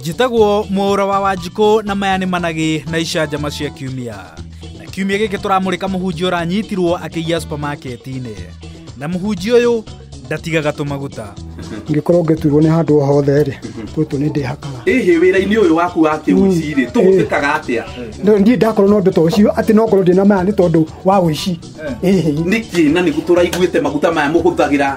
njĩtagwo mwaũra wa wanjikũ na maya nĩ managĩ na icanjama cia kiumia na kiumia gĩkĩ tũramũrĩka mũhunjia ũranyitirwo akĩiya supamaketi-inĩ na mũhunjia ũyũ ndatigaga tũmaguta ngĩkorwo ngĩturwo nĩ handũ o hothe rĩ gũtũ nĩ ndĩhakaga ĩhĩ wĩra-inĩ ũyũ waku wa kĩũici rĩ tũhũthĩkaga atĩa Ndĩ- niĩ ndakorwo na ũndũ ta ũcio atĩ no ngorwo ndĩna maya nĩ tondũ wa ũici ĩhĩ nĩkĩ na nĩgu tũraiguĩte maguta maya mũhũthagĩra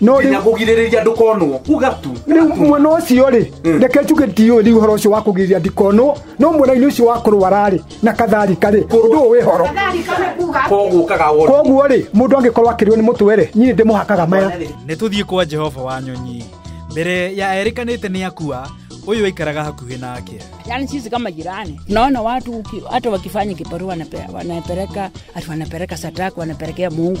no nginya rĩu kũgirĩrĩria ndũkonwo uga tu rĩu mwena ũcio rĩ Mm. reke njuge ndiũĩ rĩu ũhoro ũcio wa kũgirĩria ndikonwo no mwena-inĩ ũcio wa kũrwara rĩ na katharika rĩ ũndũ ũyũ wĩ horo kogũkaga wona koguo rĩ mũndũ angĩkorwo akĩrĩo nĩ mũtwe rĩ nyinĩ ndĩmũhakaga maya nä tå thiä kwa jehova wa nyonyi mbere ya erĩkanä te nä akua å yå aikaraga hakuhä nake Yaani sisi kama jirani naona watu uki- hata wakifanya kibarua wanape- wanapeleka hata wanapeleka sataka wanapelekea Mungu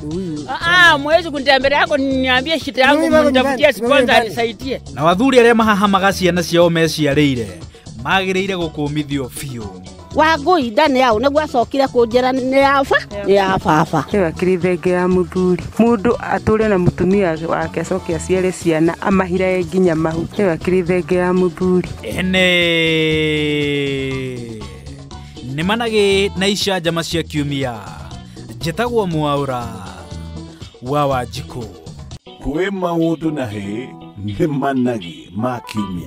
Huyu. Ah, ah, mwezi kunitembelea yako niambie shida yangu Mimi bado mnitafutie nyumbani, sponsor mimi bado. anisaidie. na wathuri arĩa mahahamaga ciana ciao meciarĩire magĩrĩire gũkũmithio biũ wangũi ndani yao nĩguo acokire kũnjĩra nĩ yaba nĩ ya baba ĩyo akĩrĩ thenge ya mũthuri mũndũ atũre na mũtumia wake acoke aciare ciana amahirae nginya mahu ĩyo akĩrĩ thenge ya mũthuri ene nĩmanagĩ na icanjama cia kiumia njĩtagwo mwaũra wa wanjikũ kwĩ maũndũ na hĩ nĩ managi ma kiumia